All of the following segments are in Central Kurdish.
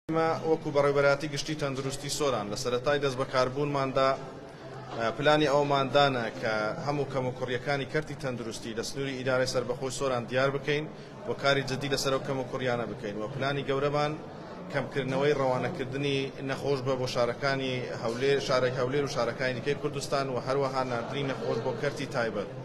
ئێمە وەکو بەڕێوبەرایەتی گشتی تەندروستی سۆران لە سەرەتای دەست بەکاربوونماندا پلانی ئەومان دانە کە هەموو کەموکوڕیەکانی کەرتی تەندروستی لە سنووری ئیدارەی سربەخۆی سۆران دیار بکەین و کاری جددی لەسەر ئەو کەموکوڕیانە بکەین و پلانی گەورەمان کەمکردنەوەی ڕەوانەکردنی نەخۆش بە بۆ شارەکانی هەولێر شارەی هەولێر و شارەکانی دیکەی کوردستان و هەروەها ناردنی نەخۆش بۆ کەرتی تایبەت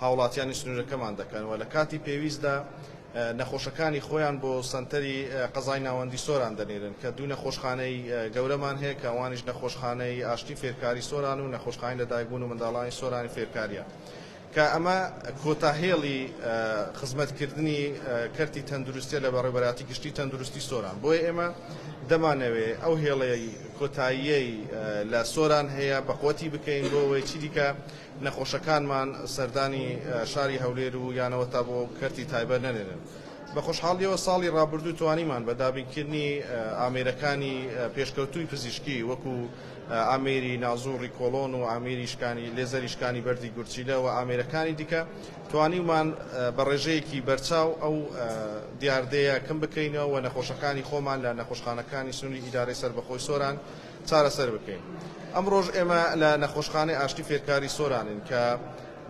هاوڵاتیانی سنورەکەمان دەکەن و لە کاتی پێویستدا نەخۆشەکانی خۆیان بۆ سەنتەری قەزای ناوەندی سۆران دەنێرن کە دوو نەخۆشخانەی گەورەمان هەیە کە ئەوانیش نەخۆشخانەی ئاشتی فێرکاری سۆران و نەخۆشخانەی لەدایکبوون و منداڵانی سۆرانی فێرکاریە کە ئەمە کۆتا هێڵی خزمەت کردنی کەرتی تەندروستیە لە بەڕێوبەراتی گشتی تەندروستی سۆران بۆیە ئێمە دەمانەوێ ئەو هێڵەی کۆتاییەی لە سۆران هەیە بەقوەتی بکەین بۆ ئەوەی چیدیکە نەخۆشەکانمان سەردانی شاری هەولێر و یانەوە تا بۆ کەرتی تایبەت نەنێرن. بە خۆشحاڵییەوە ساڵی ڕابردوو توانیمان بە دابینکردنی ئامێرەکانی پێشکەوتووی پزیشکی وەکو ئامێری نازوڕی کۆڵۆن و ئامێری شکانی لێزەری شکانی بەردی گورچیلە و ئامێرەکانی دیکە توانیومان بە ڕێژەیەکی بەرچاو ئەو دیاردەیە کەم بکەینەوە و نەخۆشەکانی خۆمان لە نەخۆشخانەکانی سنووری ئیدارەی سەربەخۆی سۆران چارەسەر بکەین. ئەمڕۆش ئێمە لە نەخۆشخانەی ئاشتی فێرکاری سۆرانین کە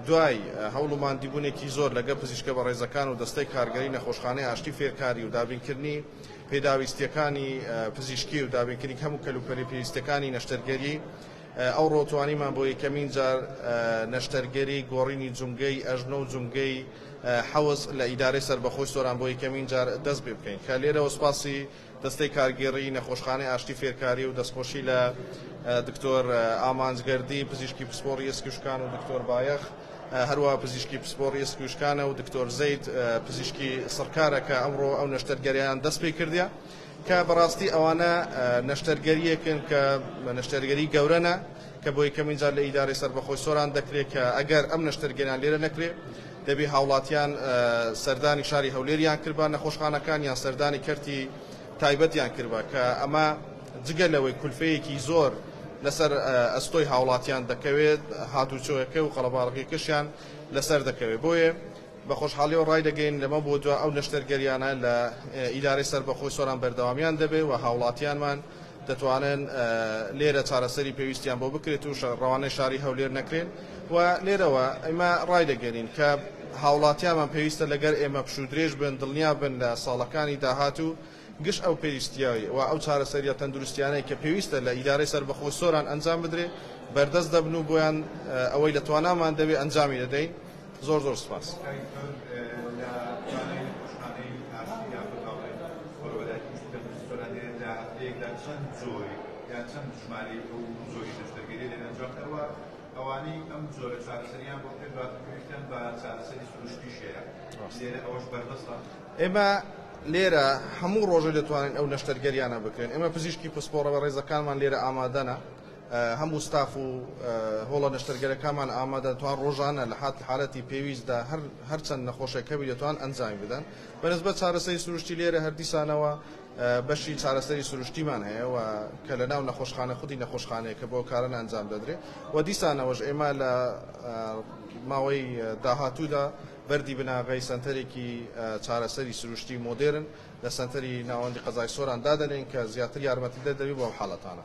دوای هەوڵ و ماندیبوونێکی زۆر لەگەڵ پزیشکە بەڕێزەکان و دەستەی کارگەری نەخۆشخانەی ئاشتی فێرکاری و دابینکردنی پێداویستییەکانی پزیشکی و دابینکردنی هەموو کەلوپەلی پێویستەکانی نەشتەرگەری ئەوڕۆ توانیمان بۆ یەکەمین جار نەشتەرگەری گۆڕینی جومگەی ئەژنۆ و جومگەی حەوز لە ئیدارەی سەربەخۆی سۆران بۆ یەکەمین جار دەست پێبکەین کە لێرەوە سوپاسی دەستەی کارگێڕیی نەخۆشخانەی ئاشتی فێرکاری و دەستخۆشی لە دکتۆر ئامانج گەردی پزیشکی پسپۆڕی ئێسک و شکان و دکتۆر بایەخ هەروەها پزیشکی پسپۆڕی ئێسک و شکانە و دکتۆر زەید پزیشکی سڕکارە کە ئەمڕۆ ئەو نەشتەرگەریان دەست پێ کردە کە بەڕاستی ئەوانە نەشتەرگەریەکن کە نەشتەرگەری گەورەنە کە بۆ یەکەمین جار لە ئیدارەی سەربەخۆی سۆران دەکرێت کە ئەگەر ئەم نەشتەرگەریان لێرە نەکرێت دەبێ هاوڵاتیان سەردانی شاری هەولێریان کردبا، نەخۆشخانەکانیان سەردانی کەرتی تایبەتیان کردبا کە ئەمە جگە لەوەی کولفەیەکی زۆر لەسەر ئەستۆی هاوڵاتیان دەکەوێت، هاتوچۆیەکە و قەڵەباڕغیەکەشیان لەسەر دەکەوێت. بۆیە بە خۆشحاڵیەوە ڕایدەگەین لەمە بۆ دوا ئەو نەشتەرگەریانە لە ئیدارەی سەربەخۆی سۆران بەردەوامیان دەبێت و هاوڵاتیانمان دەتوانن لێرە چارەسەری پێویستیان بۆ بکرێت و ڕەوانەی شاری هەولێر نەکرێن و لێرەوە ئەمە ڕایدەگەنین کە هاوڵاتیانمان پێویستە لەگەر ئێمە پشوو درێژ بن دڵنیا بن لە ساڵەکانی داهاتوو گشت ئەو پێویستیای و ئەو چارەسەریە تەندروستیانەی کە پێویستە لە ئیدارەی سەربەخۆ سۆران ئەنجام بدرێ بەردەست دەبن و بۆیان ئەوەی لە توانامان دەبێ ئەنجامی دەدەین. زۆر زۆر سوپاس. ئێمە لێرە هەموو ڕۆژێ دەتوانین ئەو نەشتەرگەریانە بکرێن ئێمە پزیشکی پسپۆڕە بەڕێزەکانمان لێرە ئامادەنە. هەموو ستاف و هۆڵە نەشتەرگەرەکانمان ئامادەن توان ڕۆژانە لە حالەتی پێویستدا هەر هەر چەند نەخۆشێک هەبی دەتوان ئەنجامی بدەن بە نسبەت چارەسەری سروشتی لێرە هەر دیسانەوە بەشی چارەسەری سروشتیمان هەیە و کە لە ناو نەخۆشخانە خودی نەخۆشخانەیە کە بۆ کارن ئەنجام دەدرێ و دیسانەوەش ئێمە لە ماوەی داهاتوودا بەردی بناغەی سەنتەرێکی چارەسەری سروشتی مۆدێرن لە سەنتەری ناوەندی قەزای سۆران دادەنێن کە زیاتر یارمەتیدەر دەبی بۆ ئەم حاڵەتانە.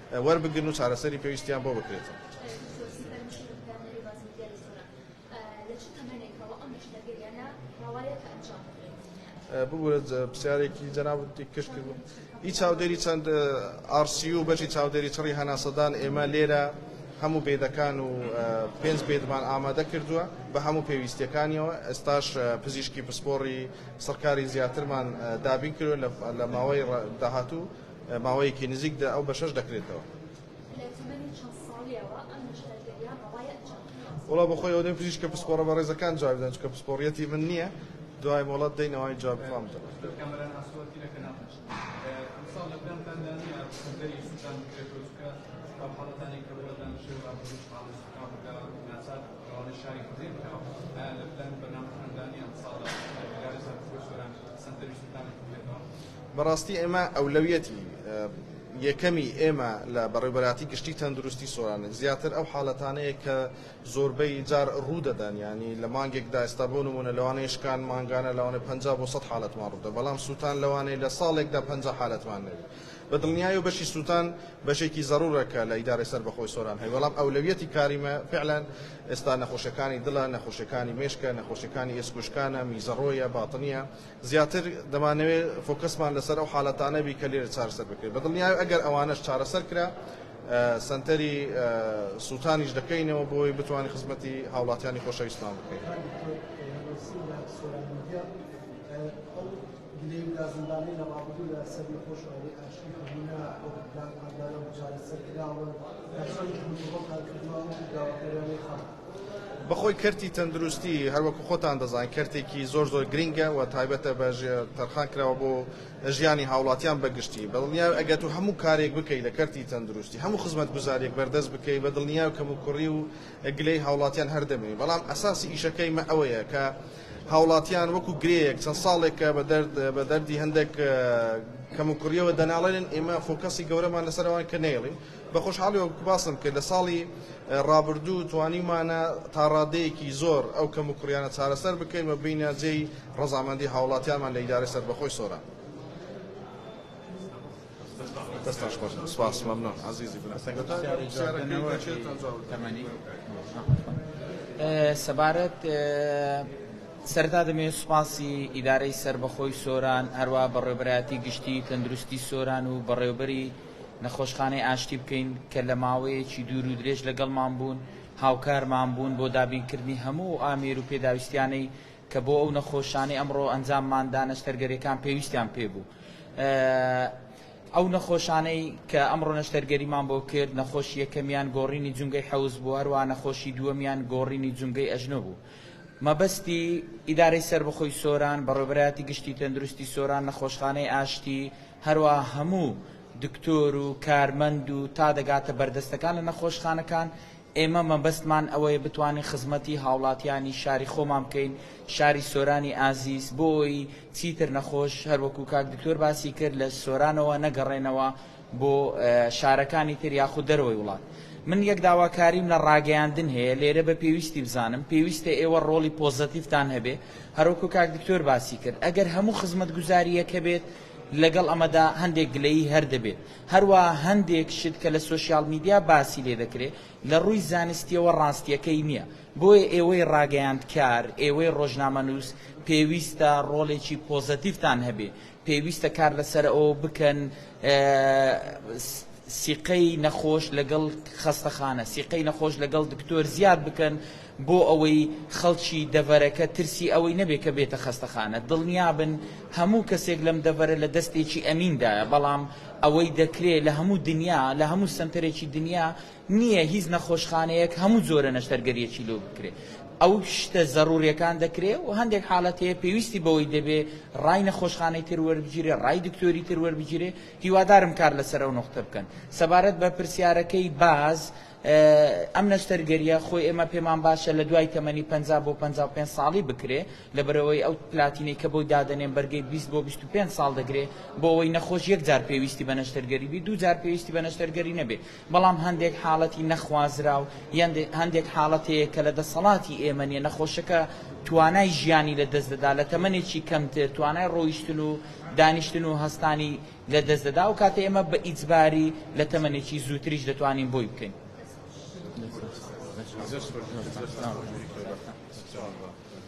وەربگرن و چارەسەری پێویستیان بۆ بکرێتەوە. ببورە پرسیارێکی جەنابت کەش کرد هیچ چاودێری چەند ئارسی و بەشی چاودێری چڕی هەناسەدان ئێمە لێرە هەموو بێدەکان و پێنج بێدمان ئامادە کردووە بە هەموو پێویستیەکانیەوە ئێستاش پزیشکی پسپۆڕی سەرکاری زیاترمان دابین کرد لە ماوەی داهاتوو ماوەیەکی نزیک دە ئەو بەشەش دەکرێتەوە. لە تەمەنی چەند ساڵیەوە ئەم نەشتەرگەرییە ڕەوای ئەنجام بدرێت؟ وەڵا بە خۆی ئەوە دەی پزیشکە پسپۆڕە بەڕێزەکان جوابی بدەن چونکە پسپۆڕیەتی من نییە دوای مۆڵەت دەین ئەوانی جوابی خۆیان بدەن. بەڕاستی ئێمە ئەولەویەتی یەکەمی ئێمە لە بەڕێوبەراتی گشتی تەندروستی سۆرانک زیاتر ئەو حالەتانەیە کە زۆربەی جار ڕوو دەدەن یانی لە مانگێکدا ئێستا بۆ نمونە لەوانەیە شکان مانگانە لەوانەیە پەنجا بۆ سەد حالەتمان ڕوودە بەڵام سووتان لەوانەیە لە ساڵێکدا پەنجا حالەتمان نەبی بە دڵنیایی و بەشی سووتان بەشێکی زەرورە کە لە ئیدارەی سەربەخۆی سۆران هەیە بەڵام ئەولەویەتی کاریمە فعلا ئێستا نەخۆشەکانی دڵە نەخۆشەکانی مێشکە نەخۆشەکانی ئێسکوشکانە میزەڕۆیە باتنیە زیاتر دەمانەوێت فۆکەسمان لەسەر ئەو حالەتانە بی کە لێرە چارەسەر بکرێت بەدڵنیایە ئەگەر ئەوانەش چارەسەر کرا سەنتەری سوتانیش دەکەینەوە بۆی بتوانین خزمەتی هاوڵاتیانی خۆشەویستمان بکەین. بەخۆی کەرتی تەندروستی هەروەکو خۆتان دەزانن کەرتێکی زۆر زۆر گرینگە و تایبەتە بە تەرخان کراوە بۆ ژیانی هاوڵاتیان بەگشتی بەدڵنیاو ئەگەر تۆ هەموو کارێک بکەی لە کەرتی تەندروستی هەموو خزمەت گوزاریەک بەردەست بکەی بە دڵنیاو کەم و کوڕی و گلەی هاوڵاتیان هەر دەمێنی بەڵام ئەساسی ئیشەکەی مە ئەوەیە کە هاوڵاتیان وەکو گرێیەک چەند ساڵێکە بە دەرد بە دەردی هەندێک کەم و کوڕیەوە دەناڵێنن ئێمە فۆکەسی گەورەمان لەسەر ئەوان کە نەیڵین بە خۆشحاڵی وەک باسم کرد لە ساڵی ڕابردوو توانیومانە تا ڕادەیەکی زۆر ئەو کەموکوڕیانە چارەسەر بکەین و بینە جێی ڕەزامەندی هاوڵاتیانمان لە ئیدارەی سەربەخۆی سۆران. دەستان خۆش سپاس مەمنون عزیزی بن سەبارەت سەردا دەمێت سوپاسی ئیدارەی سربەخۆی سۆران هەروە بەڕێبەتی گشتی تەندروستی سۆران و بەڕێوبەری نەخۆشخانەی ئاشتی بکەین کە لە ماوەیەکی دوور و درێژ لەگەڵمان بوون، هاوکارمان بوون بۆ دابینکردنی هەموو ئەو ئامێر و پێداویستیانەی کە بۆ ئەو نەخۆشانەی ئەمڕۆ ئەنجاممان دا نەشتەرگەریەکان پێویستیان پێ بوو. ئەو نەخۆشانەی کە ئەمڕۆ نەشتەرگەریمان بۆ کرد نەخۆشی یەکەمیان گۆڕینی جومگەی حەوز بوو هەروەها نەخۆشی دووەمیان گۆڕینی جومگەی ئەژنۆ بوو. مەبەستی ئیدارەی سەربەخۆی سۆران، بەڕێوەبەرایەتی گشتی تەندروستی سۆران، نەخۆشخانەی ئاشتی، هەروا هەموو دکتۆر و کارمەند و تا دەگاتە بەردەستەکان لە نەخۆشخانەکان، ئێمە مەبەستمان ئەوەیە بتوانین خزمەتی هاوڵاتیانی شاری خۆمان بکەین، شاری سۆرانی ئازیز، بۆ ئەوەی چیتر نەخۆش هەروەکو کاک دکتۆر باسی کرد لە سۆرانەوە نەگەڕێنەوە، بۆ شارەکانی تر یاخود دەرەوەی وڵات من یەک داواکاریم لە ڕاگەیاندن هەیە لێرە بە پێویستی بزانم پێویستە ئێوە ڕۆڵی پۆزەتیفتان هەبێ هەروکو کاک دکتۆر باسی کرد ئەگەر هەموو خزمەت گوزاریەکە بێت لەگەڵ ئەمەدا هەندێک گلەیی هەر دەبێت هەروە هەندێک شت کە لە سوسیال میدیا باسی لێ دەکرێت لە ڕووی زانستیەوە ڕاستیەکەی نییە بۆیە ئێوەی ڕاگەیاندکار ئێوەی ڕۆژنامە نووس پێویستە ڕۆڵێکی پۆزەتیفتان هەبێ پێویستە کار لەسەر ئەوە بکەن سیقەی نەخۆش لەگەڵ خەستەخانە سیقەی نەخۆش لەگەڵ دکتۆر زیاد بکەن بۆ ئەوەی خەڵکی دەڤەرەکە ترسی ئەوەی نەبێت کە بێتە خەستەخانە دڵنیابن هەموو کەسێک لەم دەڤەرە لە دەستێکی ئەمیندایە بەڵام ئەوەی دەکرێت لە هەموو دنیا لە هەموو سنتەرێکی دنیا نیە هیچ نەخۆشخانەیەک هەموو جۆرە نەشتەرگەریەکی لۆ بکرێ ئەو شتە زەرورەکان دەکرێ و هەندێک حالەت هەیە پێویستی بەوەی دەبێ ڕای نەخۆشخانەی تر وەربگیرێ ڕای دکتۆری تر وەربگیرێ هیوادارم کار لەسەر ئەو نوقتە بکەن سەبارەت بە پرسیارەکەی باز ئەم نەشتەرگەریە خۆی ئێمە پێمان باشە لە دوای تەمەنی 50 بۆ 55 ساڵی بکرێ لەبەرەوەی ئەو پلاتینەی کە بۆی دادەنێن بەرگەی 20 بۆ 25 ساڵ دەگرێ بۆ ئەوەی نەخۆش یەک جار پێویستی بە نەشتەرگەری بی دوو جار پێویستی بە نەشتەرگەری نەبێ بەڵام هەندێک حاڵەتی نەخوازراو یان هەندێک حاڵەت هەیە کە لە دەسەڵاتی ئێمە نیە، نەخۆشەکە توانای ژیانی لە دەست دەدا، لە تەمەنێکی کەمتر توانای ڕۆیشتن و دانیشتن و هەستانی لە دەست دەدا، ئەو کاتە ئێمە بە ئیجباری لە تەمەنێکی زووتریش دەتوانین بۆی بکەین.